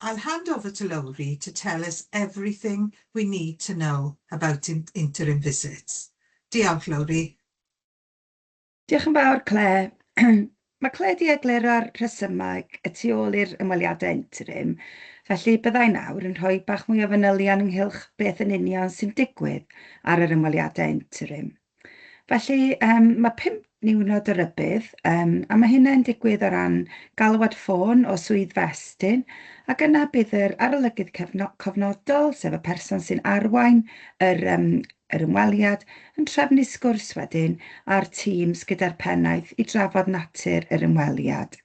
I'll hand over to Lowri to tell us everything we need to know about interim visits. Diolch, Lowri. Diolch yn fawr, Claire. Mae Claire 'di egluro'r rhesymau y tu ôl i'r ymweliadau interim, felly bydda i nawr yn rhoi bach mwy o fanylion ynghylch beth yn union sy'n digwydd ar yr ymweliadau interim. Felly, yym, mae pump niwrnod o rybudd, yym, a mae hynna'n digwydd o ran galwad ffôn o swydd fy estyn, ac yna bydd yr arolygydd cefno- cofnodol, sef y person sy'n arwain yr, yym, yr ymweliad, yn trefnu sgwrs wedyn â'r tîms gyda'r pennaeth i drafod natur yr ymweliad.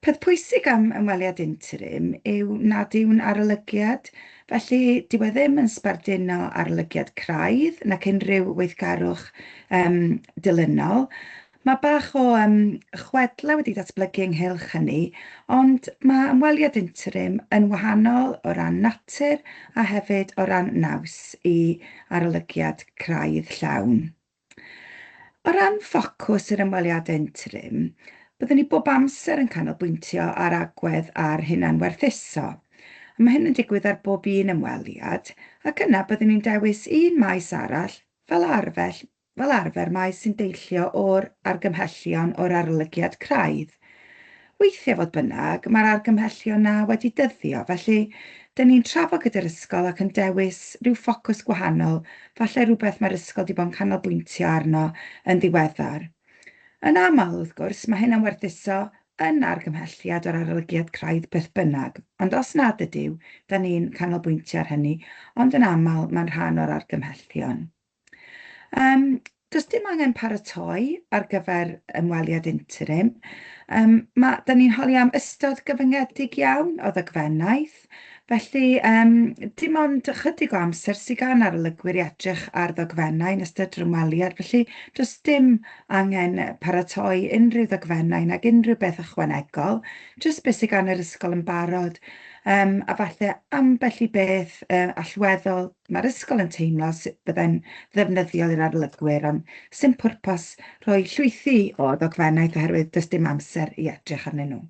Peth pwysig am ymweliad interim yw nad yw'n arolygiad, felly dyw e ddim yn sbarduno arolygiad craidd nac unrhyw weithgarwch yym dilynol. Mae bach o yym chwedlau wedi datblygu ynghylch hynny, ond mae ymweliad interim yn wahanol o ran natur a hefyd o ran naws i arolygiad craidd llawn. O ran ffocws yr ymweliadau interim, byddwn ni bob amser yn canolbwyntio ar agwedd a'r hunanwerthuso. Mae hyn yn digwydd ar bob un ymweliad, ac yna byddwn ni'n dewis un maes arall, fel arfer maes sy'n deillio o'r argymhellion o'r arolygiad craidd. Weithiau, fodd bynnag, mae'r argymhellion 'na wedi dyddio, felly 'dyn ni'n trafod gyda'r ysgol ac yn dewis rhyw ffocws gwahanol, falle rhywbeth mae'r ysgol 'di bod yn canolbwyntio arno yn ddiweddar. Yn aml, wrth gwrs, mae hyn am werthuso yn argymhelliad o'r arolygiad craidd beth bynnag, ond os nad ydyw, 'dan ni'n canolbwyntio ar hynny, ond yn aml, mae'n rhan o'r argymhellion. Yym, does dim angen paratoi ar gyfer ymweliad interim. Yym, ma'... dan ni'n holi am ystod gyfyngedig iawn o ddogfennaeth, felly yym dim ond ychydig o amser sy gan arolygwyr i edrych ar ddogfennau yn ystod yr ymweliad, felly does dim angen paratoi unrhyw ddogfennau nag unrhyw beth ychwanegol, jyst be' sy gan yr ysgol yn barod, yym a falle ambell i beth yy allweddol. Mae'r ysgol yn teimlo sut byddai'n ddefnyddiol i'r arolygwyr ond sdim pwrpas rhoi llwythi o ddogfennaeth oherwydd does dim amser i edrych arnyn nhw.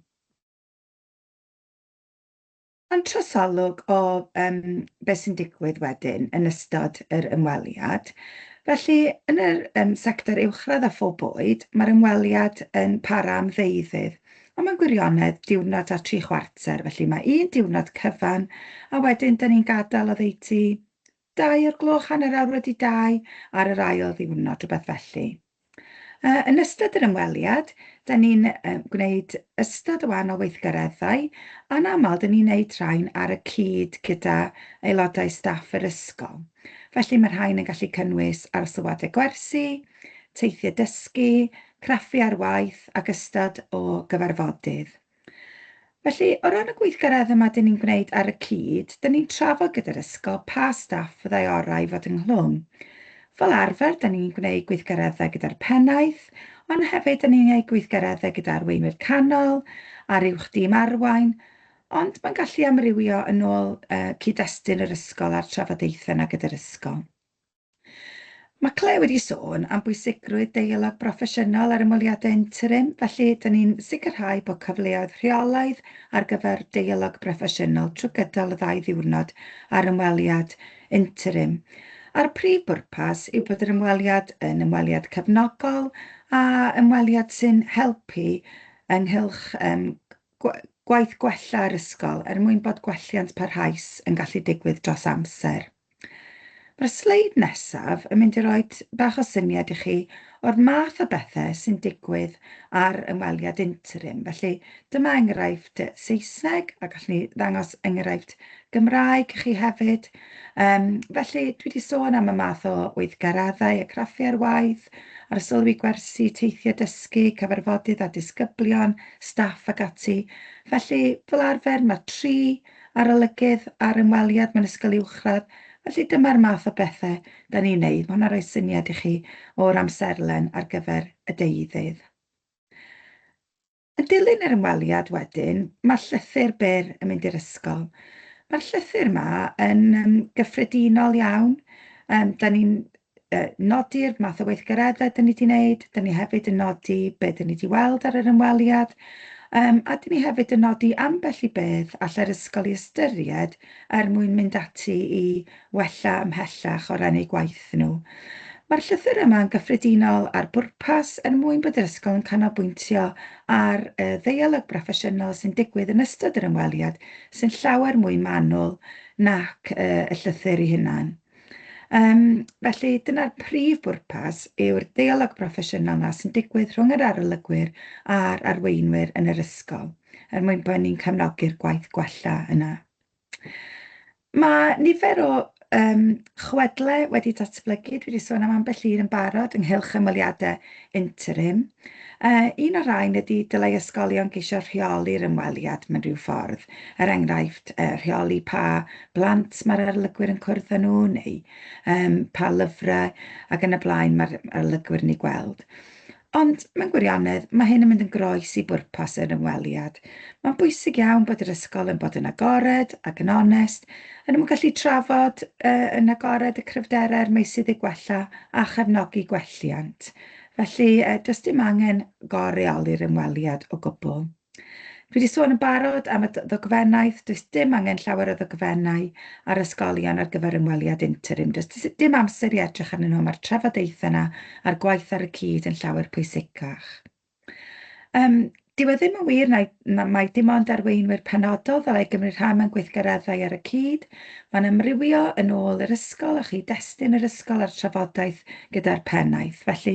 Ond trosolwg o um, beth sy'n digwydd wedyn yn ystod yr ymweliad. Felly, yn yr um, sector uwchradd a phob bwyd, mae'r ymweliad yn para am ddeuddydd, Ond mae'n gwirionedd diwrnod a tri chwarter, felly mae un diwrnod cyfan, a wedyn dyn ni'n gadael oddeutu dau o'r gloch, hanner awr wedi dau, ar yr ail ddiwrnod, rhywbeth felly. Uh, yn ystod yr ymweliad, dyn ni'n uh, gwneud ystod o wahanol weithgareddau, a'n aml dyn ni'n neud rhain ar y cyd gyda aelodau staff yr ysgol. Felly mae'r rhain yn gallu cynnwys ail sylwadau gwersi, teithiau dysgu, craffu ar waith ac ystod o gyfarfodydd. Felly, o ran y gweithgaredd yma dyn ni'n gwneud ar y cyd, dyn ni'n trafod gyda'r ysgol pa staff fyddai orau i fod ynghlwm. Fel arfer, dyn ni'n gwneud gweithgareddau gyda'r pennaeth, ond hefyd dyn ni'n gwneud gweithgareddau gyda arweinwyr canol a'r uwch dîm arwain, Ond mae'n gallu amrywio yn ôl cyd-destun yr ysgol a'r trafodaethau yna gyda'r ysgol. Mae Claire wedi sôn am bwysigrwydd deialog broffesiynol ar ymweliadau interim, felly dyn ni'n sicrhau bod cyfleoedd rheolaidd ar gyfer deialog broffesiynol trwy gydol y ddau ddiwrnod ar ymweliad interim, a'r prif bwrpas yw bod yr ymweliad yn ymweliad cefnogol a ymweliad sy'n helpu ynghylch Gwaith gwella yr ysgol er mwyn bod gwelliant parhaus yn gallu digwydd dros amser. Mae'r sleid nesaf yn mynd i roi bach o syniad i chi o'r math o bethau sy'n digwydd ar ymweliad interim. Felly dyma enghraifft Saesneg a gallwn ni ddangos enghraifft Gymraeg i chi hefyd. Um, felly, dwi wedi sôn am y math o weithgaraddau a craffu ar waith, ar y sylwi gwersi, teithiau dysgu, cyfarfodydd a disgyblion, staff ac ati. Felly, fel arfer, mae tri arolygydd ar ymweliad mewn ysgol uwchradd, felly dyma'r math o bethau da ni'n neud. Mae hwnna'n rhoi syniad i chi o'r amserlen ar gyfer y deuddydd. Yn dilyn yr ymweliad wedyn, mae'r llythyr byr yn mynd i'r ysgol. Mae'r llythyr yma yn um, gyffredinol iawn. Um, da ni'n uh, nodi'r math o weithgareddau da ni wedi wneud, da ni hefyd yn nodi beth da ni wedi weld ar yr ymweliad, um, a da ni hefyd yn nodi ambell i beth allai'r ysgol i ystyried er mwyn mynd ati i wella ymhellach o ran eu gwaith nhw. Mae'r llythyr yma yn gyffredinol ar bwrpas er mwyn bod yr ysgol yn canolbwyntio ar y ddeialog broffesiynol sy'n digwydd yn ystod yr ymweliad sy'n llawer mwy manwl nac y llythyr ei hunan. Um, felly, dyna'r prif bwrpas yw'r deialog broffesiynol yna sy'n digwydd rhwng yr arolygwyr a'r arweinwyr yn yr ysgol, er mwyn bod ni'n cefnogi'r gwaith gwella yna. Mae nifer o yym chwedlau wedi datblygu, dwi 'di sôn am ambell un yn barod ynghylch ymweliadau interim. Yy un o'r rhain ydy dylai ysgolion geisio rheoli'r ymweliad mewn rhyw ffordd, er enghraifft yy rheoli pa blant mae'r arolygwyr yn cwrdd â nhw neu yym pa lyfrau ac yn y blaen mae'r arolygwyr yn eu gweld. Ond, mewn gwirionedd, mae hyn yn mynd yn groes i bwrpas yr ymweliad. Mae'n bwysig iawn bod yr ysgol yn bod yn agored ac yn onest, yn y mwyn gallu trafod uh, yn agored y cryfderau a'r meysydd i gwella a chefnogi gwelliant. Felly, uh, does dim angen goreoli'r ymweliad o gwbl. Dwi wedi sôn yn barod am y ddogfennaeth, does dim angen llawer o ddogfennau ar ysgolion ar gyfer ymweliad interim. Does dim amser i edrych arnyn nhw, mae'r trafodaethau yna a'r gwaith ar y cyd yn llawer pwysicach. Um, Dyw e ddim yn wir na, na mae dim ond arweinwyr penodol ddylai gymryd rhan mewn gweithgareddau ar y cyd, Mae'n amrywio yn ôl yr ysgol a chyd-destun yr ysgol a'r trafodaeth gyda'r pennaeth. Felly,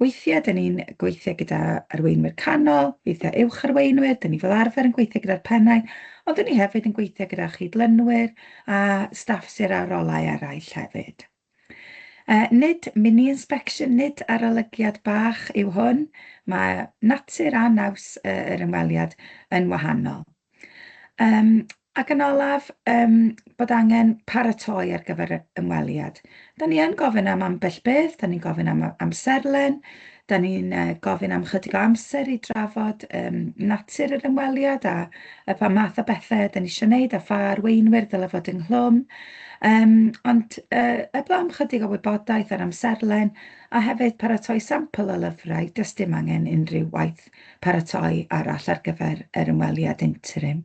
weithiau dyn ni'n gweithio gyda arweinwyr canol, weithiau uwch arweinwyr, dyn ni fel arfer yn gweithio gyda'r pennaeth, ond dyn ni hefyd yn gweithio gyda chyd-lynwyr a staff sir a rolau eraill hefyd. Yy, nid mini-inspection, nid arolygiad bach yw hwn, mae natur a naws y- yr ymweliad yn wahanol. Yym, ac yn olaf, yym, bod angen paratoi ar gyfer y ymweliad. 'Da ni yn gofyn am ambell beth, 'da ni'n gofyn am y amserlen, Dan ni'n gofyn am ychydig o amser i drafod yym natur yr ymweliad a a pha math o bethe 'dan ni isio neud a pha arweinwyr ddyle fod ynghlwm yym ond yy heblaw am ychydig o wybodaeth a'r amserlen a hefyd paratoi sampl o lyfrau, does dim angen unrhyw waith paratoi arall ar gyfer yr ymweliad interim.